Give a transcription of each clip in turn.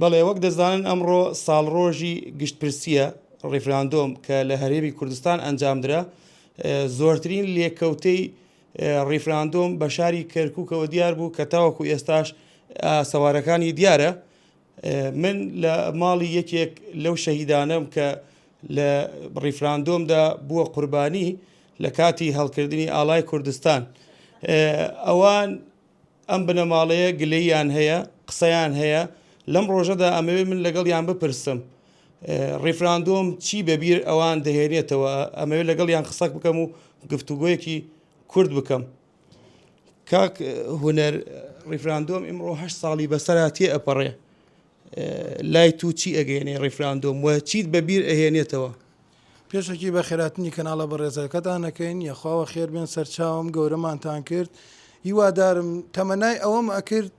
بەڵێ وەک دەزانن ئەمڕۆ ساڵڕۆژی گشتپرسیە ڕیفراندۆم کە لە هەرێمی کوردستان ئەنجامدرا زۆرترین لێکەوتەی ڕیفراندۆم بە شاری کەرکووکەوە دیار بوو کە تاوەکو ئێستاش سەوارەکانی دیارە من لە ماڵی یەکێک لەو شەهیدانەم کە لە ڕیفراندۆمدا بووە قوربانی لە کاتی هەڵکردنی ئالای کوردستان ئەوان ئەم بنەماڵەیە گلەییان هەیە، قسەیان هەیە، لەم ڕۆژەدا ئەمەوێت من لەگەڵیان بپرسم ڕیفراندۆم چی بەبیر ئەوان دەهێنێتەوە، ئەمەوێت لەگەڵیان قسەک بکەم و گفتوگۆیەکی کورت بکەم. کاک هونەر ڕیفراندۆم ئیمڕۆ هەشت ساڵی بەسەرا تێ ئەپەڕێ، لای تو چی ئەگەینێ ڕیفراندۆم وە چیت بە بیر ئەهێنێتەوە؟ پێشەکی بە خێراتنی کەناڵە بەڕێزەکەتان ئەکەین یەخواوە خێر بێن سەرچاوم گەورەمانتان کرد هیوادارم تەمەنای ئەوەم ئەکرد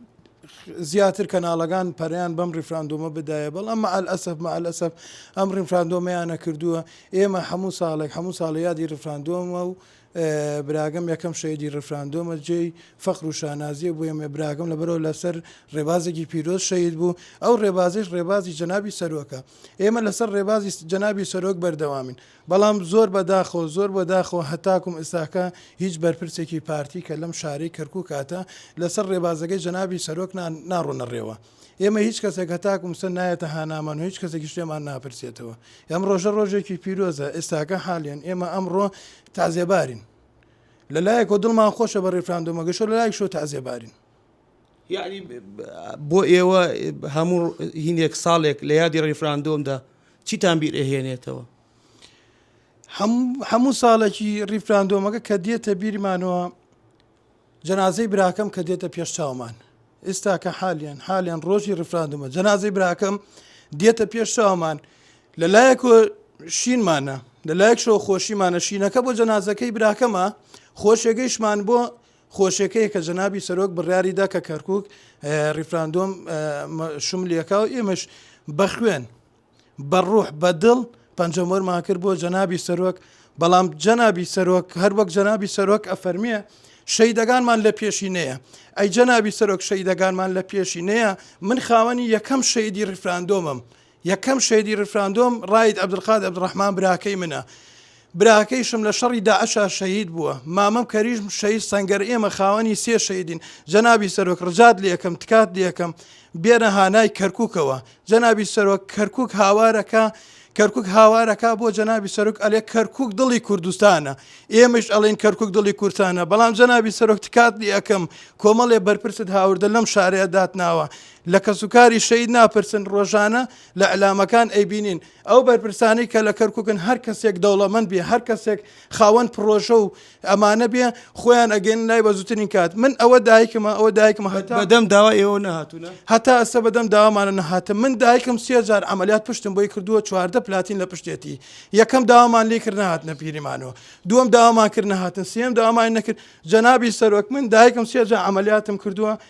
زیاتر کەناڵەکان پەریان بەم ڕیفراندۆمە بدایە بەڵ ئەمە ئەلئەسف مە ئەلئەسف ئەم ڕیفراندۆمیانە کردووە ئێمە هەموو ساڵێک هەموو ساڵە یادی ڕفراندۆمە و براکەم یەکەم شەهیدی ڕیفراندۆمە جێی فەخر و شانازیە بۆ ئێمە براکەم لەبەرەوە لەسەر ڕێبازێکی پیرۆز شەهید بوو ئەو ڕێبازیش ڕێبازی جەنابی سەرۆکە ئێمە لەسەر ڕێبازی جەنابی سەرۆک بەردەوامین بەڵام زۆر بەداخۆ زۆر بۆ داخۆ هەتاکم ئستاکە هیچ بەرپرسێکی پارتی کە لەم شارەی کەرکک کاتە لەسەر ڕێبازەکەی جەنابی سەرۆک ناڕۆنە ڕێوە ئێمە هیچ کەسێک هەتاکو مسە نایەتە هانامان و هیچ کەسێکی شتێمان ناپرسێتەوە ئەم ڕۆژە ڕۆژێکی پیرۆزە ئێستاکە حالیان ئێمە ئەمڕۆ تازێبارین لە لایەکۆ دڵمان خۆشە بە ڕێفراندۆمەگەشۆ لە لایک شۆ تازێبارین یعنی بۆ ئێوە هەموو هینێک ساڵێک لە یادی ڕیفراندۆمدا چیتان بیر ئەهێنێتەوە هەموو ساڵێکی ڕیفراندۆمەکە کە دێتە بیرمانەوە جەنازەی براکەم کە دێتە پێش چاومان ئێستا کە حالیان حالیان ڕۆژی ڕفراندمە جەنازەی براکەم دێتە پێش چاومان لە لایەک شینمانە لە لایەک شەوە خۆشیمانە شینەکە بۆ جەنازەکەی براکەمە خۆشێگەیشمان بۆ خۆشیەکەی کە جەنابی سەرۆک بڕیاریدا کە کەرکک ریفراندۆم شملەکە و ئێمەش بەخوێن بە ڕوح بە دڵ پەنجەم وەرمان کرد بۆ جەنابی سەرۆک بەڵام جەنابی سەرۆک هەر وەک جەنابی سەرۆک ئەفەرمیە شەیدەگانمان لە پێشینەیە ئەی جەنابی سەرۆک شەیدەگانمان لە پێشینەیە من خاوەنی یەکەم شەیدی ڕفراندۆمم یەکەم شەیدی ڕفراندۆم ڕایت عبدالقاد عبدڕحمان براکەی منە براکەیشم لە شەڕی داعشا شەهید بووە مامم کەریشم شەهید سەنگەر ئێمە خاوەنی سێ شەهیدین جەنابی سەرۆک ڕجات لەکەم تکات لەکەم بێنە هانای کەرککەوە جەنابی سەرۆک کەرکک هاوارەکە کەرکک هاوارەکە بۆ جەنابی سەرک ئەلێ کەرکک دڵی کوردستانە ئێمەش ئەڵین کەرکک دڵی کورتانە بەڵام جەنابی سەرۆک تکات دی ئەەکەم کۆمەڵێ بەرپرست هاوردە لەم شارەیە داتناوە لە کەسوکاری شەید ناپرسن ڕۆژانە لە علامەکان ئەیبینین ئەو بەرپرسانەی کە لە کەرکوکن هەر کەسێک دەوڵەمەند بێ هەر کەسێک خاوەن پرۆژە و ئەمانە بێ خۆیان ئەگەن لای بەزوترین کات من ئەوە دایکمە ئەوە دایکمە هەتا بەدەم داوا ئێوە نهاتونە هەتا ئەسە بەدەم داوامانە نەهاتم من دایکم سێجار ئەعملیات پشتم بۆی کردووە چواردە پلاتین لە پشتێتی یەکەم داوامان لێ کرد نهات نەپیریمانەوە دووەم داوامان کرد نهاتن سێم داوامان نەکرد جەنابی سەرۆک من دایکم سێجا ئەعملیاتم کردووە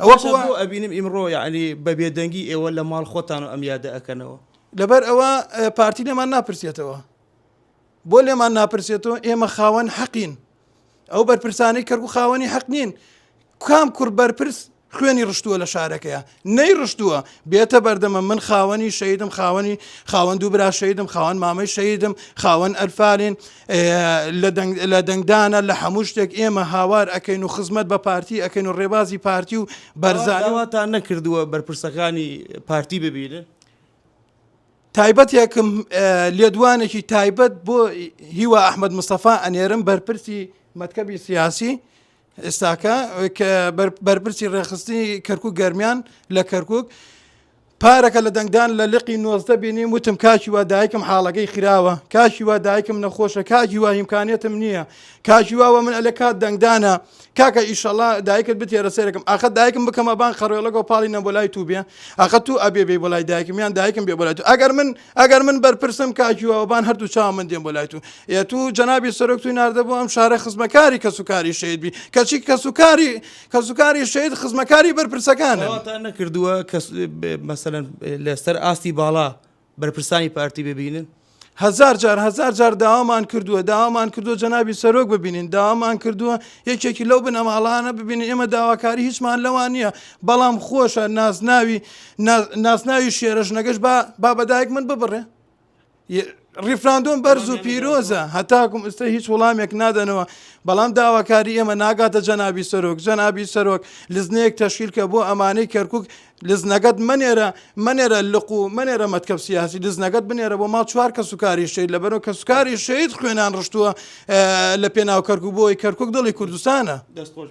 ئەوەکو وا ئەبینم ئیمڕۆ یەعنی بە بێدەنگی ئێوە لە ماڵ خۆتان و ئەم یادە ئەکەنەوە. لەبەر ئەوە پارتی لێمان ناپرسێتەوە بۆ لێمان ناپرسێتەوە ئێمە خاوەن حەقین ئەو بەرپرسانی کەرگ و خاوەنی حەق نین کام کوڕ بەرپرس خوێنی ڕشتووە لە شارەکەیە نەی ڕشتووە بێتە بەردەمە من خاوەنی شەیدم خاوەنی خاوەند و برا شەیدم خاوەن مامەی شەیدم خاوەن ئەلفالین لە دەنگدانە لە هەموو شتێک ئێمە هاوار ئەکەین و خزمەت بە پارتی ئەکەین و ڕێبازی پارتی و بەرزانی. ئەوە داواتان نەکردووە بەرپرسەکانی پارتی ببینن؟ تایبەتێکم لێدوانێکی تایبەت بۆ هیوا ئەحمەد مستەفا ئەنێرم بەرپرسی مەکتەبی سیاسی ئێستاکە کە بەرپرسی ڕێخستنی کەرکک گەرمیان لە کەرکک پارەکە لە دەنگدان لە لقی نۆزدە بینیم وتم کاچی وا دایکم حاڵەکەی خراوە کاچی وا دایکم نەخۆشە کاجی وا هیمکانێتم نییە کاجی واوە من ئەلە کات دەنگدانە کاکە ئیشەڵا دایکت بتێرە سێرەکەم ئاخە دایکم بکەمە بان خەڕێڵەگە پاڵی نە بۆ لای تو بێ ئاخە تو ئەبێ بێ بۆ لای دایکم یان دایکم بێ بۆ لای تو ئەگەر من ئەگەر من بەرپرسم کاکی وابان هەردوو چاو من دێن بۆ لای تو ئێ تو جەنابی سەرۆک توی ناردە بۆ ئەم شارە خزمەکاری کەسوکاری شەید بی کەچی کەسوکاری کەسوکاری شەید خزمەکاری بەرپرسەکانە داواتان نەکردووە کە مەسەن لەسەر ئاستی باڵا بەرپرسانی پارتی ببینن هزار جار هزار جار داوامان کردووە داوامان کردووە جەنابی سەرۆک ببینین داوامان کردووە یەکێکی لەو بنەماڵانە ببینین ئێمە داواکاری هیچمان لەوان نییە بەڵام خۆشە نازناوی ناسناوی شێرە ژنەکەش با با بەدایک من ببڕێ ریفراندۆم بەرز و پیرۆزە هەتاکم ئستا هیچ وڵامێک نادەنەوە بەڵام داواکاری ئێمە ناگاتە جەنابی سەرۆک جەنابی سەرۆک لزنەیەک تەشکیل کە بۆ ئەمانەی کەرکک لزنەکەت منێرە منێرە لق و منێرە مەتکەب سیاسی لزنەکەت بنێرە بۆ ما چوار کە سوکاری شید لەبەرەوە کە سوکاری شید خوێنان ڕشتووە لە پێناو کەرکک بۆی کەرکک دڵی کوردستانە دەستۆش.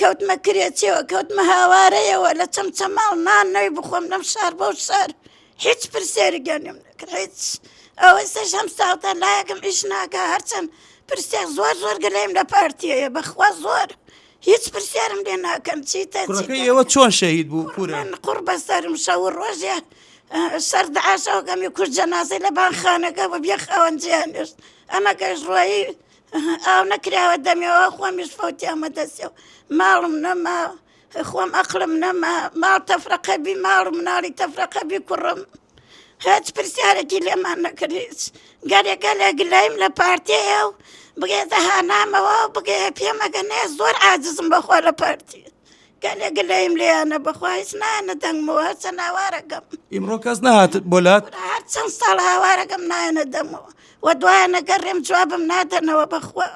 کەوتمە کرێچێوە کەوتمە هاوارەیەوە لە چەمچەماڵ نان نەوی بخۆم لەم شار بۆ شار هیچ پرسێری گەنم نەکرد هیچ ئەوە سەش هەم ساوتان لایەکم ئیش ناکە هەرچەند پرسێک زۆر زۆر گەلەیم لە پارتیەیە بەخوا زۆر هیچ پرسیارم لێ ناکەن چیتە ئێوە چۆن شەهید بوو کورە قڕ بەسەرم شە و ڕۆژێ سرد عاشەوەکەمی کورد جەنازەی لە بانخانەکە بە بێ خاوەنجیان نوشت ئەمە گەشت ڕۆیی ئاو نەکراوە دەمێەوە خۆمیش فەوتی ئەمە دەسێ و ماڵم نەما خۆم ئەقلم نەما ماڵ تەفرەقەبی ماڵ مناڵی تەفرەقەبی کوڕم هەچ پرسیارێکی لێمان نەکردیت گەلێکە لە گلەیم لە پارتەیە و بگێتە هانامەوە بگێ پێمەگەنێ زۆر عجزم بەخۆ لە پارتی گەلێ گلەیم لێیانە بەخوا هیچ نایەنە دەنگمەوە هەرچەند هاوارەکەم ئیمڕۆ کەس نهات بۆ لات خورا هەر چەند ساڵ هاوارەکەم نایەنە دەمەوە و دوایانە گەڕێم جوابم نادەنەوە بەخوا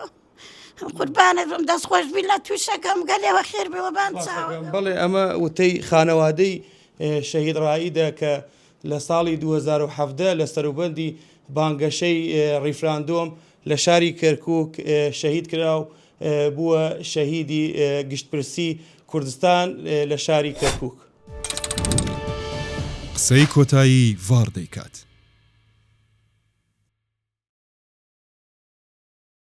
قوربانت بم دەست خۆش بی لە تووشەکەم گەلێوە خێر بێ وەبان چاوە باسەکەم. بەڵێ ئەمە وتەی خانەوادەی ئێ، شەهید ڕائیدە کە لە ساڵی 2017 لە سەروبەندی بانگەشەی ئێ، ڕیفراندۆم لە شاری کەرکووک شەهید کرا و بووە شەهیدی گشتپرسی کوردستان لە شاری کەرکووک. قسەی کۆتایی ڤاڕ دەیکات.